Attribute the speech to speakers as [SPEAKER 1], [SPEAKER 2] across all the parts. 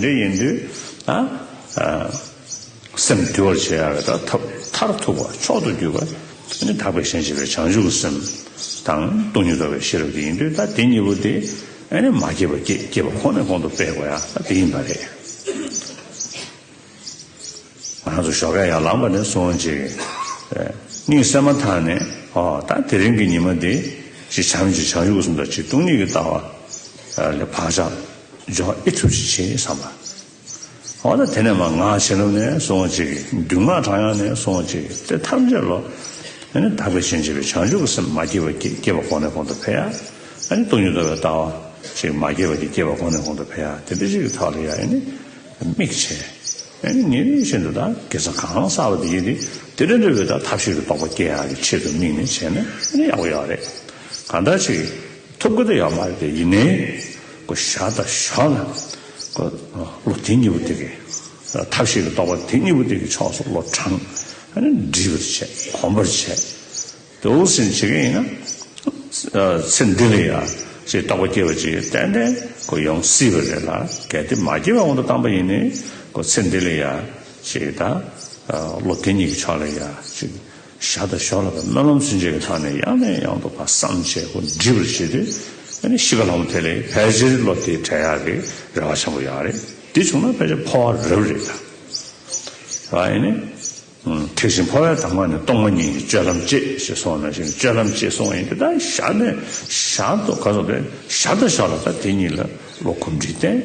[SPEAKER 1] འདི་ཡིན་དུས་ན། སེམས་བསྡུ་བར་བྱེད་ཡ་བའི་དག་ཐབས་མཐར་ཐུག་པ་མཆོག་ཏུ་གྱུར་པ་ནི་དག་པའི་ཞེན་བྱེད་པའི་བྱང་ཆུབ་སེམས་དང་སྟོང་ཉིད་རྟོགས་པའི་ཤེས་རབ་དེ་ཡིན་དུས་ད་དེ་གཉིས་པོ་དེ་མ་སྐྱེས་པ་སྐྱེས་པ་ཁོ་ནས་གོང་དུ་སྤེལ་དགོས་ཡ་ད་དེ་ཡིན་པ་རེད། ང་ཚོ་ཞོགས་ཀ་ཡར་ལངས་པ་ནས་བཟུང་ཅིག། གཉིད་སད་མ་ཐག་ནས་ཨོ་ད་དེ་རིང་གི་ཉི་མ་འདི། གཅིག་བྱམས་གཅིག་བྱང་ཆུབ་སེམས་དང་གཅིག་སྟོང་ཉིད་ཀྱི་ལྟ་བ། ལས་བག་ཆགས། སྦྱོང་བ་ཨེ་ཐུབ་ཅིག་བྱས་བསམ་པ། འོ་ན་དེ་ནས་མ་ང་བྱིན་རླབས་ནས་སོང་བྱེད་ཀྱི་རྡུལ་སྔགས་གྲངས་ཡང་ནས་སོང་བྱེད་ཀྱི་དེ་ཐམས་ཅད་ལོ། ནི་དག་པའི་ཞིང་བྱེད་པའི་བྱང་ཆུབ་ཀྱི་སེམས་མ་སྐྱེས་པ་སྐྱེས་སྐྱེས་པ་གོང་ནས་གོང་དུ་འཕེལ་ཡ། ནི་སྟོང་ཉིད་རྟོགས་པའི་ལྟ་བ། ཞིག་མ་སྐྱེས་པ་སྐྱེས་སྐྱེས་པ་གོང་ནས་གོང་དུ་འཕེལ་ཡ་དེ་འདི་ཅིག་ཐག་ལ་ཡ་ཡེ་ནི། དམིགས་བྱེད། ནི་ཉིན་རེ་བཞིན་དུ་དང་གེ་སར་གང་བསགས་པ་དེ་ཡིས་ནི་དེ་འདྲ་འདྲ་བའི་དང་ཐབས་ཤེས་ཀྱི་རྟོགས་པ་སྐྱེ་ཡ་གི་ཆེད་དུ་དམིགས་ནས་བྱས་ན་ནི་ཡག་པོ་ཡག་པོ་རེད། གང་འདྲ་ཞིག། ཐུབ་ཀྱི་ཡོད་མ་རེད་དེ་ཡིན་ནའི། བཞག་དང་བཞག་ལ། ལོ་དེ་གཉིས་པོ་དེ་གའི་ཐབས་ཤེས་ཀྱི་རྟོག་པ་དེ་གཉིས་པོ་དེ་གའི་ཕྱོགས་སུ་བློ་དྲངས། འདྲིས་པར་བྱས་གོམས་པར་བྱས། དེ་འུར་ཟིང་བྱེད་མཁན་ཡིན་ན། ཚེ་འདི་ལ་ཡང་ཞེས་རྟོག་པ་སྐྱེ་བ་ཅིག་ཏན་ཏན་ཡོང་སྲིད་པ་རེད་ལ་གལ་ཏེ་མ་སྐྱེས་པའི་དབང་དུ་བཏང་པ་ཡིན་ནའི། ཚེ་འདི་ལ་ཡང་ཞེས་དང། ལོ་དེ་གཉིས་ཀྱི་ཕྱོགས་ལ་ཡང་ཞེས། ཞག་དང་ཞོགས་ལ་སྨོན་ལམ་ཚུན་ཆད་ཀྱི་ཐོག་ནས་ཡང་ནས་ཡང་དུ་བར་སམ་བྱེད་སྒོ་འབྲི་བར་བྱེད་དུས་བྱིས་པ་ལྷ་མོ་དེ་ལས་ཕལ་ཆེར་བློ་བདེ་བྲལ་ཡག་གི་རེ་བ་ཆེན་པོ་ཡོད་རེད་དེ་བྱུང་ན་ཕལ་ཆེར་འཕོ་བ་རབ་རེད་ད་ཐེག་ཆེན་འཕོ་བའི་དང་བ་ནི་སྟོང་པ་ཉིད་ཀྱི་སྤྱོད་ལམ་གཅེས་ཞེས་གསུང་བ་ནང་བཞིན་སྤྱོད་ལམ་གཅེས་གསུང་བ་ཡིན་གྱི་ད་ཞག་ནས་ཞག་དུ་ག་སོང་བས་ཞག་དང་ཞོགས་ལ་ད་དེ་གཉིས་ལ་ལོ་གོམས་འདྲིས་བསྟན།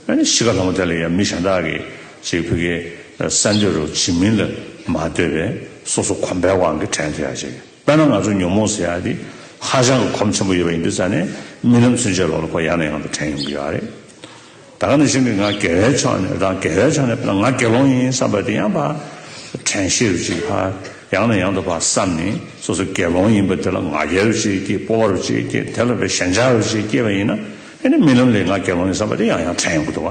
[SPEAKER 1] གཞིས་ཀ་ལྷ་མོ་དེ་ལ་ཡང་མི་གཞན་དག་གིས་ཅིག་བུ་གའི་ས་འདི་རུ་བྱིན་མིན་ལ་མ་ལྟོས་པས་སོ་སོ་གོམས་པའི་དབང་གིས་དྲན་ཐོས་ཡག་བྱེད། དཔེར་ན་ང་ཚོ་ཉོན་མོངས་ཟེར་ཡག་འདི་ཧ་ཅང་གི་གོམས་ཆེན་པོ་ཡོད་པ་ཡིན་དུས་རྩ་ནས་རྨི་ལམ་ཚུན་ཆད་ལོག་ལོག་པར་ཡང་ནས་ཡང་དུ་དྲན་ཡོང་གི་ཡོད་ཨ་རེད། ད་ག་ནས་བྱུང་གི་ང་དགེ་བའི་ཕྱོགས་ནས་དང་དགེ་བའི་ཕྱོགས་ནས་དཔེར་ན་ང་དགེ་སློང་ཡིན་བསམ་པ་དེ་ཡང་བར་དྲན་ཤེས་རུ་ཅིག་བར་ཡང་ནས་ཡང་དུ་བར་བསམ་ནས་སོ་སོ་དགེ་སློང་ཡིན་པ་དེ་ལ་ང་རྒྱལ་རུ་ཅིག་སྐྱེས་སྤོབས་བ་རུ་ཅིག་སྐྱེས་དེ་ལ་བའི་ཞེན་ཆགས་རུ་ཅིག་སྐྱེས་པ་ཡིན་ན། ཨེ་ནི་རྨི་ལམ་ལས་ང་རྒྱལ་བ་མིན་བསམ་པ་དེ་ཡང་ཡང་ཕྲན་ཡོང་གི་འདུག་བ་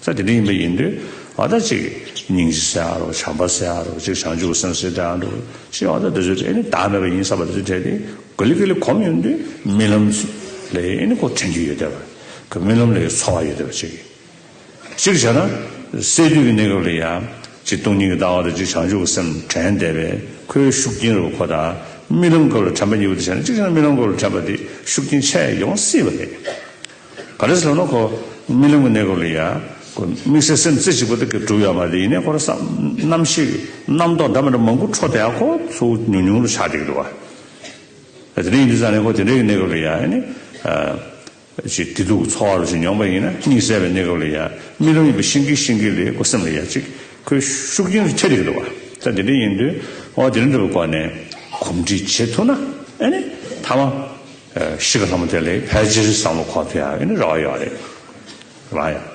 [SPEAKER 1] ས་དེ་འདྲ་ཡིན་པ་ཡིན་དུས་ཨ་ད་ཅིག་སྙིང་རྗེ་སེ་ཨ་རོག་བྱམས་པ་སེ་ཨ་རོག་ཅིག་བྱང་ཆུབ་ཀྱི་སེམས་སེ་ཏེ་ཨ་འདུག་ཅིག་ཨ་ད་དེ་ཚོའི་གྲས་ཨེ་ནི་བདག་མེད་པ་ཡིན་བསམ་པ་དེ་ཚོའི་གྲས་དེ་གོ་ལི་གེ་ལི་གོམས་ཡོང་དུས་རྨི་ལམ་ལས་ཨེ་ནི་ཁོ་དྲན་རྒྱུ་ཡོད་བསྡད་བ་གི་རྨི་ལམ་ལས་ཡོད་འཚོ་བ་ཡོད་བསྡད་བ་ཅིག་སྤྱིར་བྱས་ན། སད་དུས་ཀྱི་གནས་སྐབས་ལ་ཡང། གཅིག་སྟོང་ཉིད་ཀྱི་ལྟ་བ་དང་གཅིག་བྱང་ཆུབ་ཀྱི་སེམས་དྲན་འདས་པས་ཁོའི་ཤུགས་རྐྱེན་རུ་ཁོ་དང་རྨི་ལམ་སྐབས་ལ་དྲན་པ་གཉིས་པོ་དེ་བྱས་ན་གཅིག་བྱས་ན་རྨི་ལམ་སྐབས་ལ་དྲན་པ་དེ་ཤུགས་རྐྱེན་ཆད་ཡོང་སྲིད་པ་རེད། ག་རེ་ཟེར་ན་ཁོ་རྨི་ལམ་གྱི་གནས་སྐབས་ལ་ཡང། ཁོའི་དམིགས་བསལ་སེམས་རྩེ་གཅིག་པོ་དེ་ག་གྲུབ་ཡོད་མ་རེད་ཡིན་ནའི་ཁོ་རང་བསམ་རྣམ་ཤེས་ཀྱི་རྣམ་རྟོག་འདྲ་མི་འདྲ་མང་པོ་འཕྲོ་བསྡད་ཡང་ཁོ་ཚོ་ཉུང་ཉུང་རུ་ཆགས་བསྡད་ཀྱི་འདུག་བ། དེ་འདྲ་ཡིན་དུས་ཙང་ནས་ཁོ་དེ་འདྲའི་གནས་སྐབས་ལ་ཡང། ཅིག་བདེ་སྡུག་གི་ཚོར་བ་རོ་གཅིག་མྱོང་པ་ཡིན་ན་གཉིད་སད་པའི་གནས་སྐབས་ལ་ཡང་རྨི་ལམ་ཡིན་པ་ཤེས་ཀི་ཤེས་ཀི་ལེ་ཨོ་སེམས་ལ་ཡང་ཅིག་ཁོའི་ཤུགས་རྐྱེན་ལ་ཁྱད་དེ་གི་འདུག་བ་ད་དེ་འདྲ་ཡིན་དུས་ཨོ་དེ་འདྲ་འདུག་པའི་སྐོར་ནས་གོམས་འདྲིས་བྱེད་ཐུབ་ན་ཨེ་ནི་ཐ་མ་གཞིས་ཀ་ལྷ་མོ་དེ་ལས་ཕལ་ཆེར་བསམ་བློ་འཁོར་ཐུབ་ཡག་ཨེ་ནི་རེ་བ་ཡོད་རེད་རང་ཡང།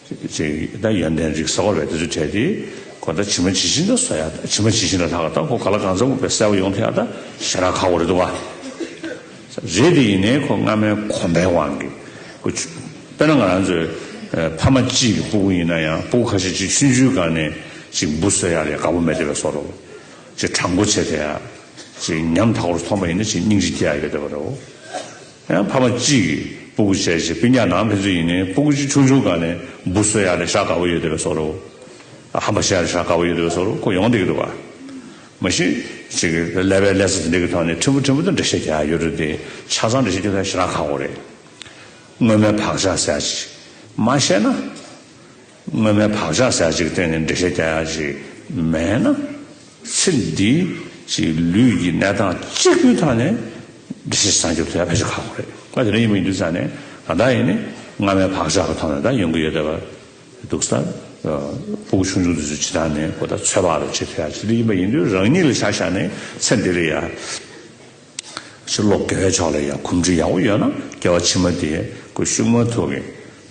[SPEAKER 1] ཅེས་དང་ཡོན་ཏན་རིགས་བཟའ་བ་བས་དེ་ཚོ་དྲས་ཏེ། གོ་ད་ཇི་མ་ཇི་བཞིན་དུ་ཟོ་ཡ་ད་ཇི་མ་ཇི་བཞིན་ལ་ལྷག་ག་ད་ཁོ་ག་ལ་གང་ཚ་འུག་པའི་སེར་བ་ཡོང་ཐུ་ཡ་ད་ཞེ་རག་ཁ་བོ་རེད་འདུག་བ། རེད་དེ་ཡིན་ནའི་ཁོ་སྔ་མའི་གོམ་པའི་དབང་གིས། ཁོ་ཆུ། དཔེར་ན་ང་རང་ཚོའི། ཕ་མ་གཅིག་གི་སྤུ་གུ་ཡིན་ན་ཡང་སྤུ་གུ་ཁ་ཤས་གཅིག་ཆུན་ཆུའི་སྒང་ནས་གཅིག་འབུ་ཟོས་ཡ་ལས་དགའ་པོ་མེད་དེ་བས་ཟོ་རོ། ཅེས་དྲང་པོ་བྱས་དེ། ཅེས་ཉམ་ཐག་པོར་མཐོང་པ་ཡིན་ན་ཅེས་སྙིང་རྗེ་སྐྱེ་ཡ་ཡོད་དེ་བ་རེད། ཡང་ཕ་མ་གཅིག་གིས་སྤུ་གུ་བྱས་རྗེས་སྤུན་ཉག་ནང་ཕན་ཚུན་ཡིན་ནའི་སྤུ་གུ་གཅིག་ཆུང་ཆུང་ག་ནས་འབུ་གསོད་ཡག་ལས་ཤ་དགའ་བོ་ཡོད་དེ་བས་གསོ་རོགས། ཧམ་པ་བྱེད་ཡག་ལས་ཤ་དགའ་བོ་ཡོད་དེ་བས་གསོ་རོགས་ཁོ་ཡོང་བསྡད་ཀྱི་འདུག་བ། མ་གཞི། ཅིག་གིས་ཀླད་པའི་ཀླད་ས་དེ་འདྲ་གི་ཐོག་ནས་ཕྲན་བུ་ཕྲན་བུ་དུ་འགྲེལ་བཤད་བརྒྱག་ཡག་ཡོད་རེད་དེ། ཆ་ཚང་འགྲེལ་བཤད་བརྒྱག་མཁན་ཞེ་དྲག་ཁག་པོ་རེད། སྔོན་མའི་བག་ཆགས་ཟེར་ཡག་ཅིག་མ་བཤད་ན། སྔོན་མའི་བག་ཆགས་ཟད་ཅིག་སྟེང་ནས་འགྲེལ་བཤད་བསྐྱལ་ཡག་ཅིག་མེད་ན། ཚེ་འདི་ཀྱི་ལུས་ཀྱི་གནས་སྟངས་གཅིག་པུའི་ཐོག་ནས་འགྲེལ་བཤད་བྱེད་ན་འགྱུར་ཐུབ་ཡག་ཕལ་ཆེར་ཁག་པོ་རེད། ང་དེ་འདྲ་ཡིན་མི་འདུག་ས་ནས་ད་ལྟ་ཡིན་ནི་སྔ་མའི་བག་ཆགས་ཀྱི་ཐོག་ནས་ད་ཡོང་གི་ཡོད་བསྡད་པ་འདུག་ས། སྤོ་བོ་ཆུང་ཆུང་དེ་ཚོས་ཇི་ལྟར་ནས་གོ་བརྡ་ཚོད་དཔག་རེ་བྱེད་ཐུབ་ཡག་ཅིག་འདི་ཡིན་པ་ཡིན་དུས་རང་ཉིད་ལ་ཆ་བཞག་ནས་ཚེ་འདི་ལ་ཡ། ཕྱིར་ལོག་དགེ་བའི་ཕྱོགས་ལ་ཡང་གོམས་འདྲིས་ཡག་པོ་ཡོད་ན་དགེ་བ་ཕྱི་མ་དེ་དགོས་ཤུགས་མ་ཐུག་གི།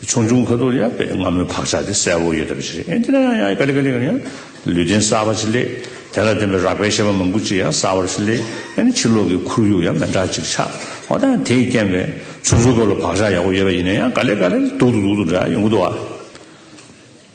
[SPEAKER 1] ཆུང་ཆུང་ཁ་ཐུག་ཡ་དཔེ་སྔ་མོའི་བག་ཆགས་དེ་གསལ་བོ་ཡོད་ཐབས་ཤིག་རེད་ཨེ་འདི་ན་ཡང་ཡང་ག་ལེ་ག་ལེ་ག་ལེ་ཡང་ལུས་རྟེན་གསར་པ་ཞིག་སླེབས་དེ་ལ་བརྟེན་པའི་རགས་པའི་ཤེས་པ་མང་པོ་ཅིག་ཡང་གསར་བར་ཞིག་སླེབས་ཨེ་ན་ཕྱིར་ལོག་གི་ཁོར་ཡུག་ཡང་མི་འདྲ་ཅིག་ཆགས་འོ་ད་ཡང་དེས་རྐྱེན་པས་ཆུང་ཆུང་སྐབས་ལ་བག་ཆགས་ཡག་པོ་ཡོད་པ་ཡིན་ན་ཡང་ག་ལེ་ག་ལེ་ལ་སྡུག་ཏུ་སྡུག་ཏུ་འདྲ་ཡོང་གི་འདུག་བ།